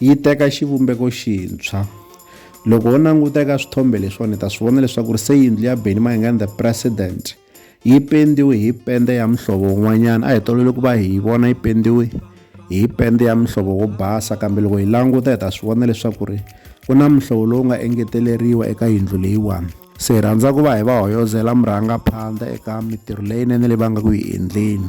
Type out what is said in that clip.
yi teka xivumbeko xintshwa loko ho languta eka swithombe leswiwani hi ta swi vona leswaku ri se yindlu ya beni mayingani the president yi pendiwe hi pende ya muhlovo wun'wanyana a hi tolovele ku va hi yi vona yi pendiwe hi pende ya muhlovo wo basa kambe loko hi languta hi ta swi vona leswaku ri ku na muhlovo lowu nga engeteleriwa eka yindlu leyiwani se hi rhandza ku va hi va hoyozela murhangaphandla eka mitirho leyinene leyi va nga ku yi endleni